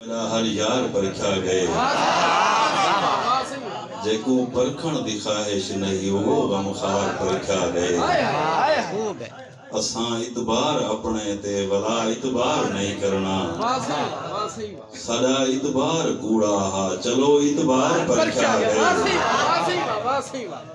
راہل یار پرکھیا گئے جیکوں پرکھݨ دی خواہش نہی اوہو غم خوار پرکھیا گئے اساں اعتبار اپݨے تے ولا اعتبار نہی کرݨا ساݙا اعتبار کوڑا ہا چلو اعتبار پرکھیا گئے۔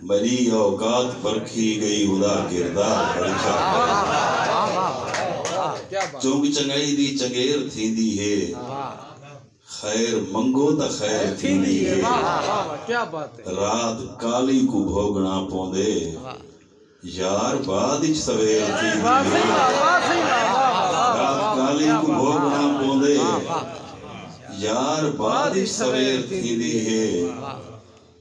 مری اوقات پرکھی گئی ادا کردار پرکھیا گئے چنگ چنگائی دی چنگیر تھیندی ہے خیر منگو تاں خیر تھیندی ہے رات کالی کوں بھوگنا پوندے یار بعد اچ سویر تھیندی ہے رات کالی کوں بھوگنا پوندے یار بعد اچ سویر تھیندی ہے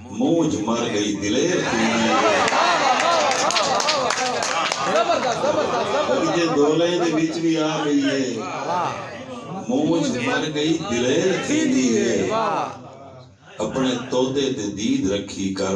موج مر گئی دلیر توں میں وے۔ اگجے دولیں دے وچ وی آ گئی ہے۔ موج مر گئی دلیر تھیندی ہے۔ اپنے طوطے تے دید رکھی کر۔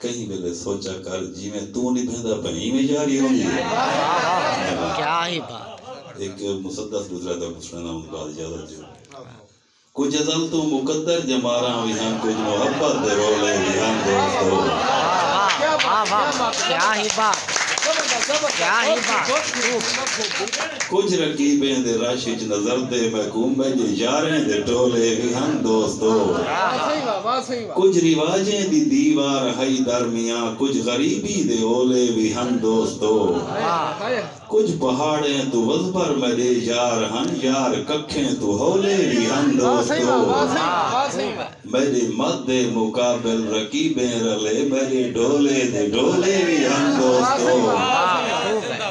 کہیں ویلے سوچا کر جیویں توں نبھیندا پئیں ایویں یاری ہوندی ہے ہک مسدس گزرا تاں اکوں سݨانا اوں دے بعد اجازت ݙیو کجھ ازل توں مقدر ڄماراں وی ہن کجھ محبت دے رولے وی ہن دوستو کجھ رقیبیں دے رش اچ نظردے محکومیں دے یاریں دے ٹولے وی ہن دوستو کجھ رواجیں دی دیوار ہئی درمیاں کجھ غریبی دے اولے وی ہن دوستو کجھ پہاڑیں توں وزبر میڈے یار ہن یار ککھیں توں ہولے وی ہن دوستو میڈے مد دے مقابل رقیبیں رلے میڈے ڈھولے دے ڈھولے وی ہن دوستو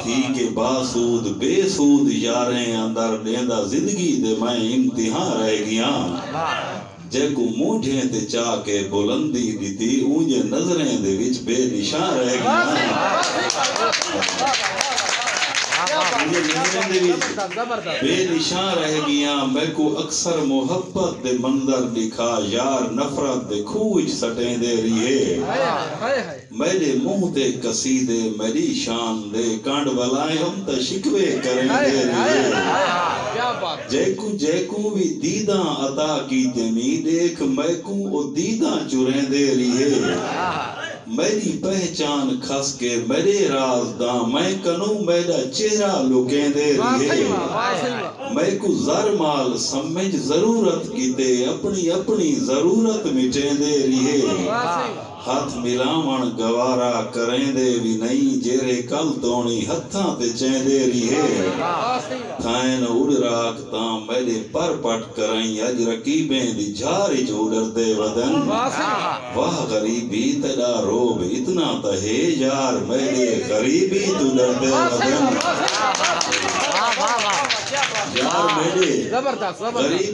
تھی کے باسود بے سود یاریں اندر ڈیندا زندگی دے میں امتحاں رہ گیاں۔ جیکوں مونجھیں تے چا کے بلندی ݙتی اونجے نظریں دے وچ بے نشاں رہ ڳیاں میکوں اکثر محبت دے منظر ݙکھا یار نفرت دے کھوہ وچ سٹیندے ریہے۔ میݙے منہ تے قصیدے میݙی شان دے کنڈ ولائم تاں شکوے کریندے ریہے جیکوں جیکوں وی دیداں عطا کیتے نی ݙیکھ میکوں او دیداں چریندے ریہے میݙی پہچان کھس کے میݙے راز داں میں کنوں میݙا چہرہ لکیندے ریہے میکوں زر مال سمجھ ضرورت کیتے اپݨی اپݨی ضرورت مٹیندے ریہے۔ ہتھ ملاوݨ گوارا کریندے وی نئیں جیرھے کل توݨی ہتھاں تے چیندے ریہے تھئین اڈراک تاں میݙے پر پٹ کرئیں اڄ رقیبیں دی جھار اچ اڈردے ودن واہ غریبی تیݙا رعب اتنا تاں ہے یار میݙے غریبی توں ڈردے ودن یار میݙے غریبی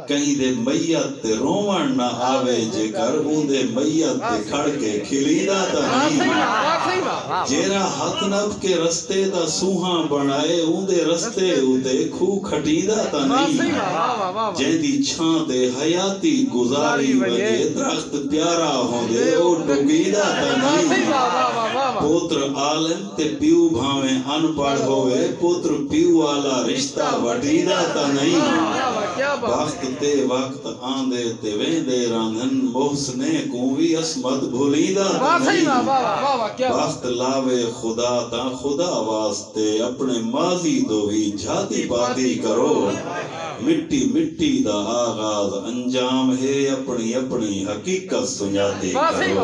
کہیں دے میت تے رووݨ نہ آوے جیکر اوندے میت تے کھڑ کے کھلیدا تاں نئیں ہا جیرھا ہتھ نپ کے رستے دا سونہاں بݨائے اوندے رستے اتے کھو کھٹیندا تاں نئیں ہا جیندی چھاں تے حیاتی گزاری ونڄے درخت پیارا ہوندے او ݙوکیندا تاں نئیں ہا پوتر عالم تے پیو بھانویں ان پڑھ ہووے پتر پیو آلا رشتہ وڈھیدا تاں نئیں بخت تے وقت آندے تے ویندے راندھن محسنے کوں وی عصمت بھلیندا تاں نئیں بخت لاوے خدا تاں خدا واسطے اپنے ماضی دو وی جھاتی پاتی کرو۔ مٹی مٹی دا آغاز انجام ہے اپنڑی اپنڑی حقیقت سنجاتی کرو۔